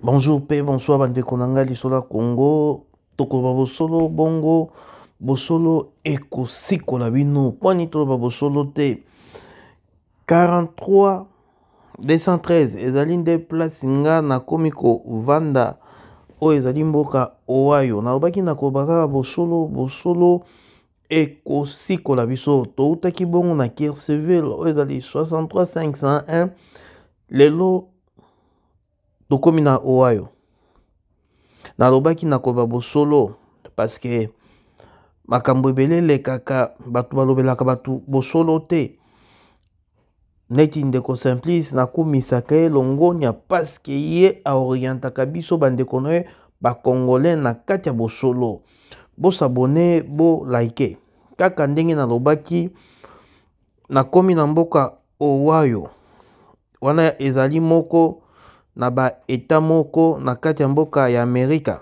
Bonjour pe bonsoir bandeko na ngai lisolo ya Congo tokoloba bosolo bongo bosolo ekosikola bino mpo nini toloba bosolo te 43 213 ezali nde place nga nakomi kovanda oyo ezali mboka owayo nalobaki nakoloba kaka bosolo bosolo ekosikola biso toutaki bongo na kircivil oyo ezali 63501 lelo tokomi na ohio nalobaki nakoba bosolo paske makambo ebele elekaka bato balobelaka bato bosolo te neti ndeko simplice nakumisaka ye longonya paske ye aorientaka biso bandeko na ye bacongolais na kati ya bosolo bosabone bolaike kaka ndenge nalobaki nakomi na mboka owayo wana ezali moko na baeta moko na kati ya mboka ya amerika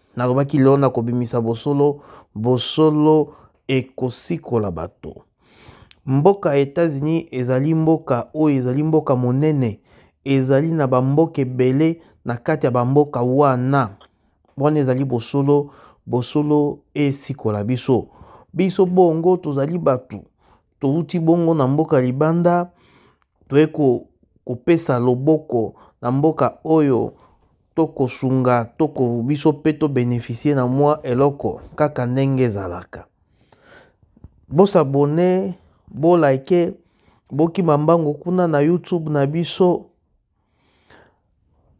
Nalobaki, Lelo nakobimisa bosolo, bosolo ekosikola bato. Mboka ya Etats-Unis ezali mboka oyo ezali mboka monene, ezali na bamboka ebele na kati ya bamboka wana. Wana ezali bosolo, bosolo esikola biso. Biso bongo tozali bato, Towuti bongo na mboka libanda, toye ko kopesa loboko na mboka oyo tokosunga toko biso mpe to beneficier na mwa eloko kaka ndenge ezalaka. Bo s'abonner, bo liker, bokima mbangu kuna na YouTube na biso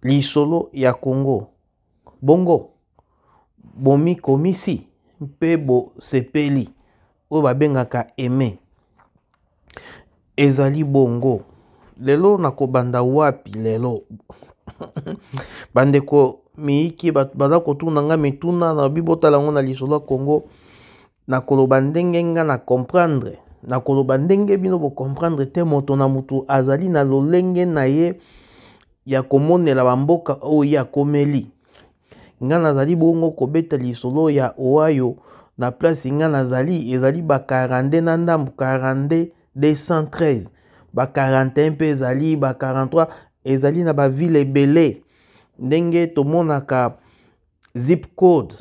lisolo ya Congo. Bongo bomikomisi mpe bosepeli, oyo babengaka aime. Ezali bongo lelo na kobanda wapi lelo bandeko miyiki baza kotuna nga mituna na lobi botala yango na lisolo ya Congo na koloba ndenge nga na comprendre na koloba ndenge bino bocomprendre te moto na moto azali na lolenge na ye ya komonela bamboka oyo ye akomeli. Nga nazali bongo kobeta lisolo ya Ohio na place nga nazali ezali ba 42 na ndambo 42 213 ba 41 mpe ezali ba 43 ezali na bavile ebele ndenge tomonaka zip code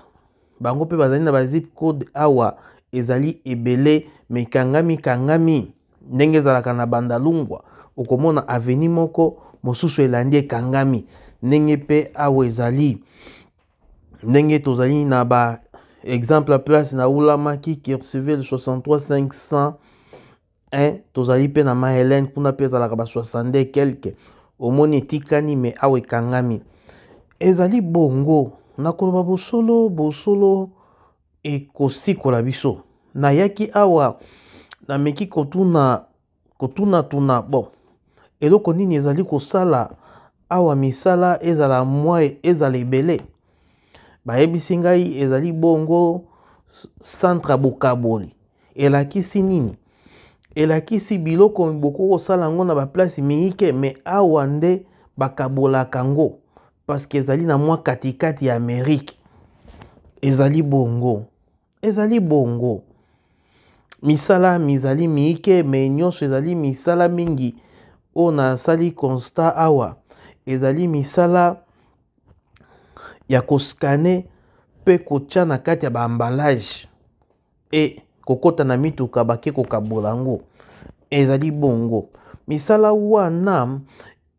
bango mpe bazali na bazip code awa ezali ebele mikangami kangami ndenge ezalaka na bandalungwa okomona aveni moko mosusu elandi ekangami ndenge mpe awa ezali ndenge tozali na ba exemple place na ulamaki kirsiville 63 500 eh, tozali mpe na ma helene kuna mpe ezalaka ba 62 quelque omoni etikani me awa ekangami ezali bongo na koloba bosolo bosolo ekosikola biso nayaki awa nameki kotuna kotunatuna bon eloko nini ezali kosala awa misala ezala mwa ezala ebele bayebisi ngai ezali bongo centre ya bokaboli elakisi nini elakisi biloko bokoki kosala yango na baplace miike me awa nde bakabolaka yango parceke ezali na mwa katikati ya amerike ezali bongo Ezali bongo. Misala mizali miike me nyonso ezali misala mingi oyo nasali constat awa ezali misala ya koskane mpe kotya na kati ya baambalage e kokota na mituka bake kokabola yango ezali bongo misala wana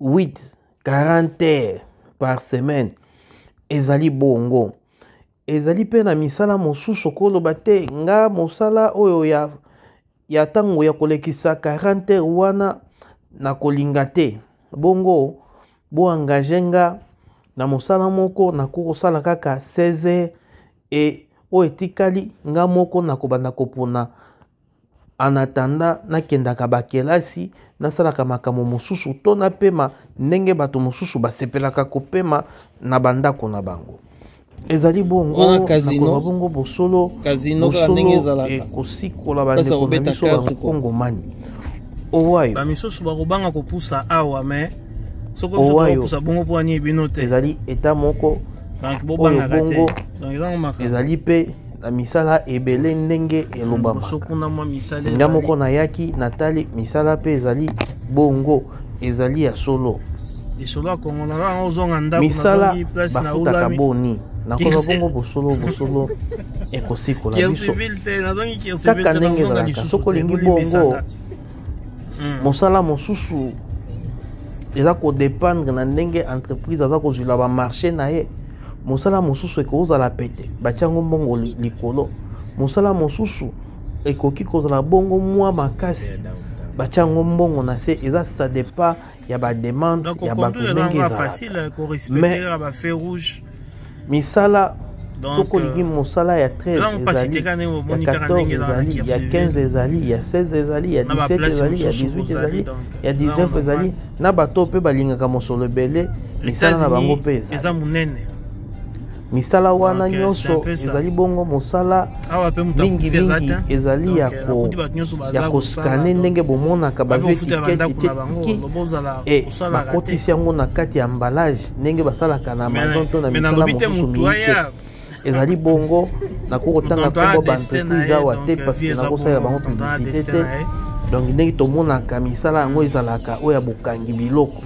8 40 heures par semaine ezali bongo ezali mpe na misala mosusu okoloba te nga mosala oyo ya ya ntango ya kolekisa 40 heures wana nakolinga te bongo boengage nga na mosala moko nakoki kosala kaka 16 heures e oyo etikali nga moko nakobanda kopona En attendant, nakendaka bakelasi, nasalaka makambo mosusu to napema ndenge bato mosusu basepelaka kopema na bandako na bango. ezali bongonakoba bongo bosolo ekosikola bandeko na biso bakongomani owayo bamisusu bakobanga kopusa awa me soki biso tokopusa bongo mpo anie bino te ezali eta moko oyo bongo ezali mpe na misala ebele ndenge elobama nga moko nayaki natali misala mpe ezali bongo ezali ya solo misala bafutaka boni nakoba bongo bosolo bosolo ekosikola biso kaka ndenge ezalaka soki olingi bongo hmm. mosala mosusu eza kodependre na ndenge entreprise aza kozwila bamarché na ye mosala mosusu ekoki kozala pete batya yango mbongo likolo mosala mosusu ekoki kozala bongo mwa makasi batya yango mbongo na se eza ça dépend ya bademande ya bato ndenge ezalakamains misala soko olingi mosala ya 13 ezali ya 14 ezali ya 15 ezali ya 16 ezali ya 17 ezali ya 18 ezali ya 19 ezali na bato mpe balingaka mosolo ebele misala na bango mpe eza monene misala wana nyonso ezali bongo mosala mingimingi ezali ya koskane ndenge bomonaka bazwi etiketiketikiki e bakotisi yango na kati ya ambalage ndenge basalaka na amazon to na misala mosusu miike ezali bongo nakoki kotanga nkombo baentreprise awa te parceke nakosalela bango publicité te donc ndenge tomonaka misala yango ezalaka oyo ya bokangi biloko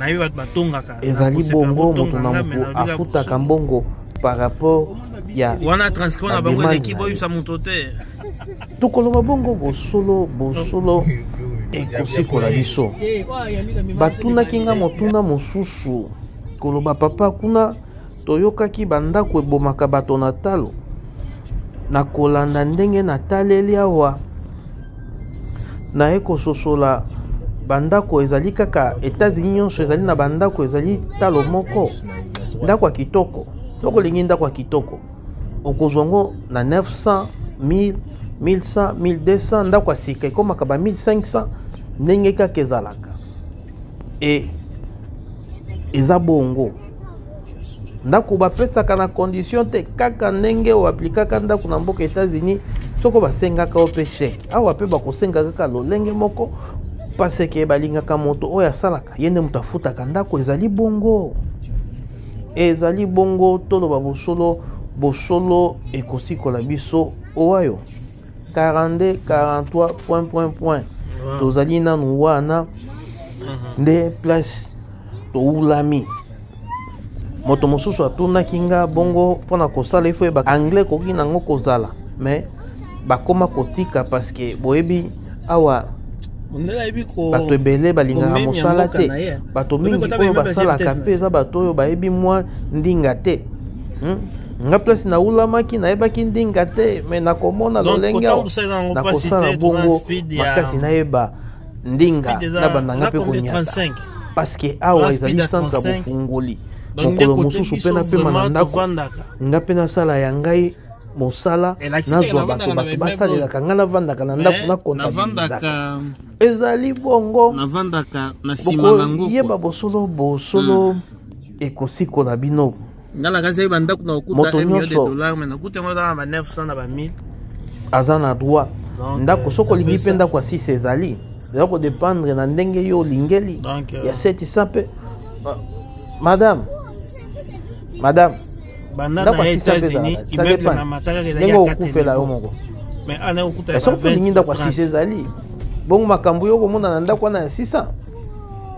ezali bongo moto na moto afutaka mbongo par rapport ya wana transcon na bango eleki boyebisa moto te tokoloba bongo bosolo bosolo ekosikola biso batunaki nga motuna mosusu koloba papa kuna Toyokaki bandako ebomaka bato na talo. Na kolanda ndenge nataleli awa, naye kososola bandako ezali kaka Etats-Unis nyonso ezali na bandako ezali talo moko ndako ya kitoko soko olingi ndako ya kitoko okozwa yango na 900 1000 1100 1200 ndako ya sika ekomaka ba 1500 ndenge kaka ezalaka e eza bongo ndako bapesaka na condition te kaka ndenge oaplikaka ndako na mboka états-unis soko basengaka yo mpe chèque awa mpe bakosenga kaka lolenge moko paseke balingaka moto oyo asalaka ye nde moto afutaka ndako ezali bongo ezali bongo toloba bosolo bosolo ekosikola biso owayo 42 43 point point point tozali nanu wana mhm. nde place towulami moto mosusu atunaki nga bongo mpo na kosala ifo yeba anglais ekoki nango kozala mais bakoma kotika parceke boyebi awa bato ebele balingaka mosala te bato mingi oyo basalaka mpe eza bato oyo bayebi mwa ndinga te hmm? nga place naulamaki nayebaki ndinga te me nakomona lolenge nakosala bongo makasi nayeba ndinga na bandanga mpe konyata parceke awa ezali centre ya bofungoli mokolo mosusu mpe napema na ndako nga mpe nasala ya ngai mosala nazwa bato bato basalelaka ngai navandaka na ndako nakontabizaka ezali bongo bokoyeba bosolo bosolo hmm. ekosikola bino nga nakasaki bandako na kokuta Moto 1 million de nyonso. dollars mais nakuta yango eza na ba 900 na ba 1000 aza na droit Donc, ndako euh, soki ça olingi peut mpe ça. ndako ya sisi ezali eza kodependre na ndenge yo olingeli Donc, euh, ya setisa mpe Ma- madame madame banda ndako na ya sisi mpe États-Unis ezalaka ça immeuble dépend na mataka ezalaki ndenge ya okufela yo 4 moko mais ana okuta ya soki ba olingi 20 ndako ya 30. sisi ezali bongo makambo yo okomona na ndako wana ya sisa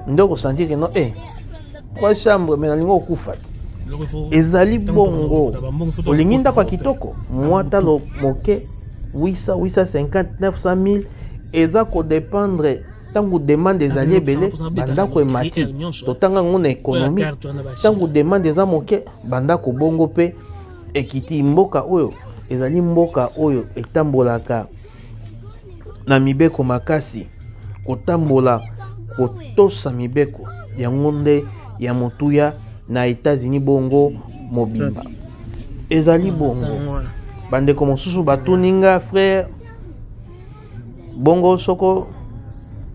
nde okosantire no e kwa chambre me nalingi okufa te ezali bongo olingi ndako ya kitoko mwa talo moke 800 850 900 mille eza kodependre ntango demande ezali ebele bandako emati totanga yango na ekonomi ntango demande eza moke bandako bongo mpe ekiti mboka oyo ezali mboka oyo etambolaka na mibeko makasi kotambola kotosa mibeko yango nde ya motuya na etats-unis bongo mobimba ezali bongo bandeko mosusu batuni nga frere bongo soko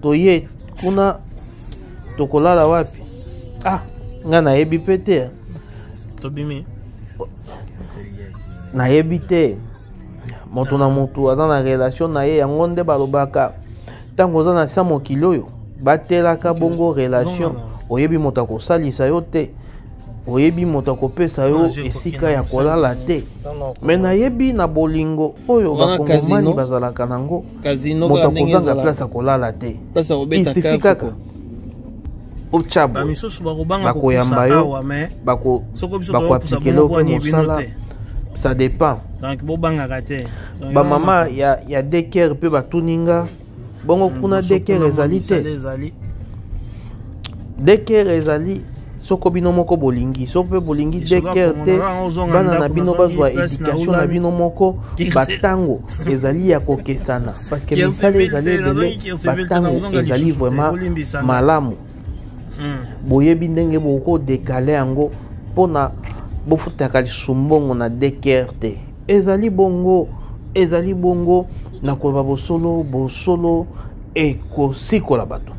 toye kuna tokolala wapi ah nga nayebi mpe te tobimi nayebi te moto na moto aza na relation na ye yango nde balobaka ntango oza na sa mokili oyo batelaka bongo relation oyebi moto akosalisa yo te oyebi moto akopesa yo esika ya kolala te me nayebi na bolingo oyo bakongomani bazalaka nango moto akozanga place ya kolala te isifi kaka otya bakoyamba yo bakoaplikele ope mosala ça dépend donc bobangaka te bamama ya, ya deker mpe batuni nga bongo hmm, kuna deker ezali te deker ezali soko bino moko bolingi soko mpe bolingi deker te bana na bino bazwa edikatio na bino moko batango ezali ya kokesana parceke misala ezali ebele batango ezali vraiment malamu hmm. boyebi ndenge bokodekale yango mpona bofutaka lisusu mbongo na deker te Ezali bongo, ezali bongo, na koloba bosolo, bosolo ekosikola bato.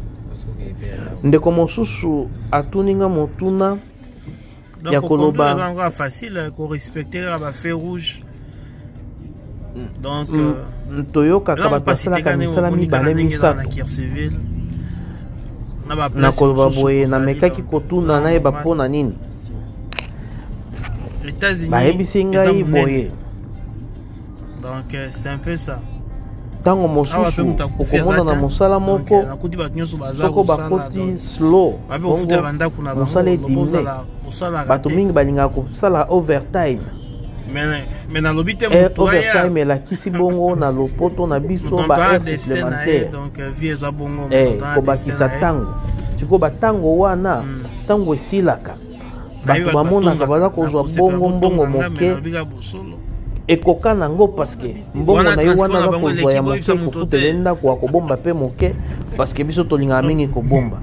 ndeko mosusu atuni nga motuna ya koloba facile eh, korespecte kaka bafe rouge donc mm, euh, mm, toyokaka bato basalaka misala mibale misato na koloba boye namekaki kotuna nayeba mpo na nini bayebisi ngai boye donc euh, c'est un peu ça ntango mosusu okomona na mosala moko euh, soko bakoti slow bongo mosala edimine bato mingi balingaka kosala overtime me nalobi te eh, overtime elakisi bongo na lopoto na biso baheure supplémentaire euh, eh, kobakisa ntango sikoyo bantango wana ntango hmm. esilaka bato bamonaka baza kozwa bongo mbongo moke ekoka na yango parceke mbongo na ye wana aza kozwa ya moke kokutela ye ndako akobomba mpe moke parceke biso tolingaka mingi kobomba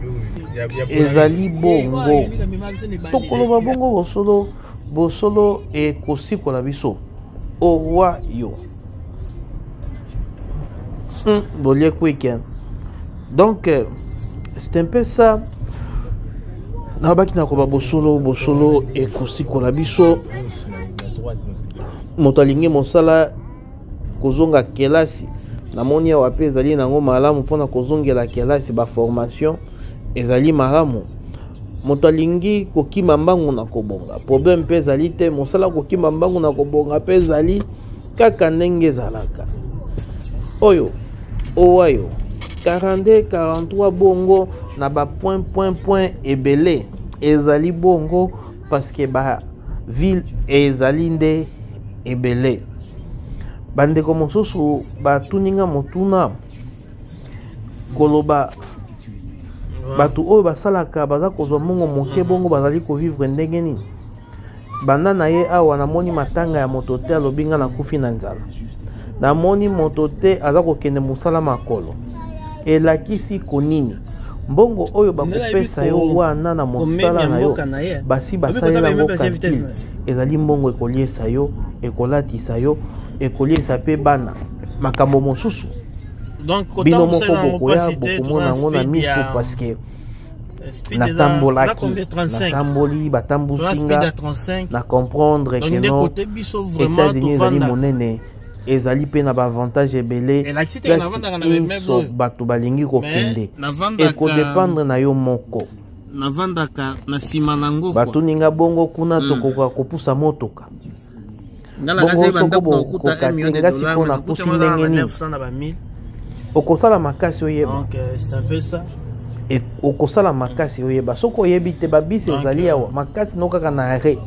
ezali bongo tokoloba bongo bosolo Bosolo ekosikola biso orwa yo hmm, bolie kwike donc euh, c'est un peu ça nabaki nakoba bosolo bosolo ekosikola biso moto alingi mosala kozonga kelasi namoni awa mpe ezali nango malamu mpona kozongela kelasi baformation ezali malamu moto alingi kokima mbangu na kobonga problème mpe ezali te mosala kokima mbangu na kobonga mpe ezali kaka ndenge ezalaka oyo owayo 42 43 bongo na bapoint point point ebele ezali bongo parce que ba ville ezali nde ebele bandeko mosusu batuni nga motuna koloba bato oyo basalaka baza kozwa mbongo moke bongo bazali kovivre ndenge nini banda na ye awa namoni matanga ya moto te alobi nga nakufi na nzala namoni moto te aza kokende mosala makolo elakisi konini mbongo oyo bakopesa yo wana na mosala na yo basi basalela yango kalkile ezali mbongo ekoliesa yo ekolatisa yo ekoliesa mpe bana makambo mosusu bino moko bokoya bokomona yango na miso parceke natambolaki natamboli batambusinga na comprendre keno etats-unis ezali monene ezali mpe na baavantage ebele inso bato balingi kokende ekodependre na yo moko navandaka na nsima na ngo batuni nga bongo kuna hmm. tokoka kopusa motuka bongosokobokoka te nga sikoyo napusi ndenge nini okosala makasi oyeba e, okosala makasi oyeba soki oyebi te babisi ezali awa makasi no kaka na arret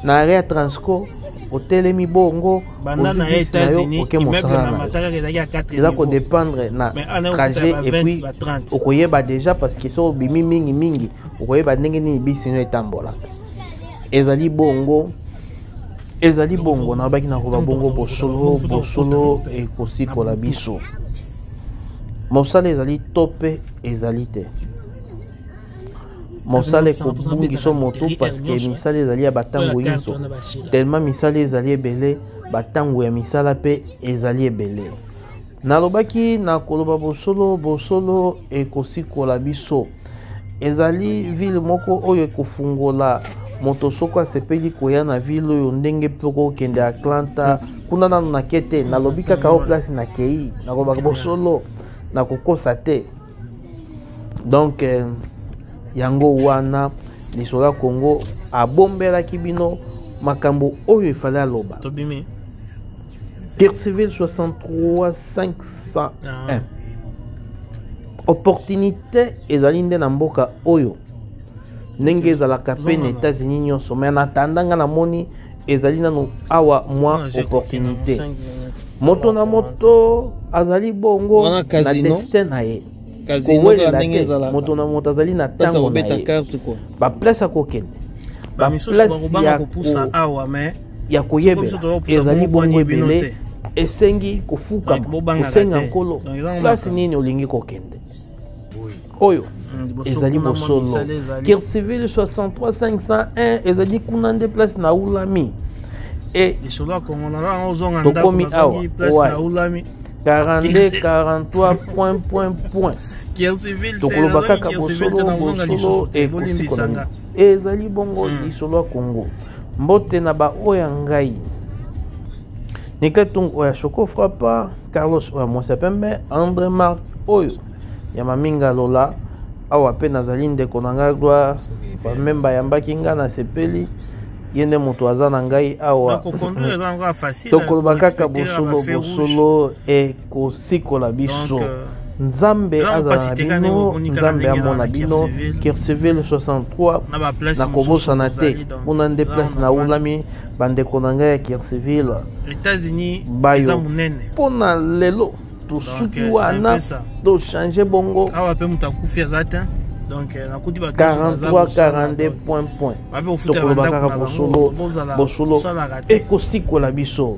na arret ya transco otelemi bongo banda na ye états-unis immeuble na mataka ezalaki ya 4 eza kodépendre na trajet epuis okoyeba déjà parce que soki obimi mingi mingi okoyeba ndenge nini bisino etambolaka ezali bongo ezali bongo nalobaki nakoba bongo bosolo bosolo ekosikola biso mosala ezali to mpe ezali te mosala ekobungisa moto parceke misala ezali ya batango nyonso telema misala ezali ebele batango ya misala mpe ezali ebele nalobaki na koloba bosolo bosolo ekosikola biso ezali vile moko oyo ekofungola moto soko asepeli koya na vile oyo ndenge mpe kokende atlanta kuna nano nake te nalobi kaka o place nakei nakolobaka bosolo nakokosa te donc eh, yango wana lisolo ya congo abombelaki bino makambo oyo efali aloba tobimi guerre civile 63 501 ah. opportunité ezali nde na mboka oyo ndenge ezalaka mpe na états-unis nyonso mai na tanda ngai namoni ezali nano awa mwa opportunité moto na moto azali bongo na destin na ye kowelela te moto na moto azali na ntango na ye baplace akokende baplace ya kopusa awa mais ya koyebela ezali bongo ebele esengi kofuka kosenga nkolo place nini olingi kokende oyo mm, ezali bosolo kircivile 63501 ezali kuna nde place na ulami e lisolo ya kongo na yango ozonga tokomi awa wapi 42 43 point point point tokoloba kaka bosolo bosolo ekosikolana ezali bongo mm. lisolo ya kongo mbote na baoyo ya ngai niketungu oyo ya shoko frappa Carlos oyo mwasi ya pembe Andre Marc oyo ya maminga lola awa mpe nazali ndeko na ngai gloire bameme bayambaki ngai nasepeli ye nde moto aza na ngai awa tokoloba kaka bosolo bosolo ekosikola biso euh, nzambe azala na bino nzambe amona bino kirceville 63 nakobosana te kuna nde place naulami bandeko na ngai ya kircivile etats-unis eza monene mpo na lelo tosuki euh, wana tochange bongo awa mpe moto akufi aza te donc euh, nakuti bato 43 42 point point tokoloba kaka bosolo bosolo ekosikola biso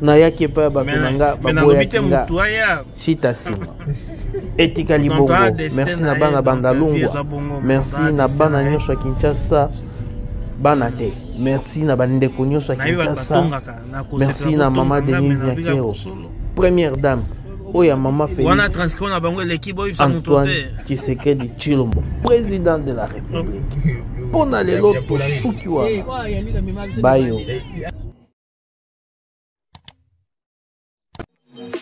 nayaki epai ya bato na nga baboyaki nga shita sima etikali bongo merci na bana bandalungwa merci na bana nyonso ya kinshasa bana te merci na bandeko nyonso ya kinshasa merci na mama denise nyakero première dame oyo ya mama felisantoine tshisekedi tshilombo président de la république mpo na lelo tosuki wana bayo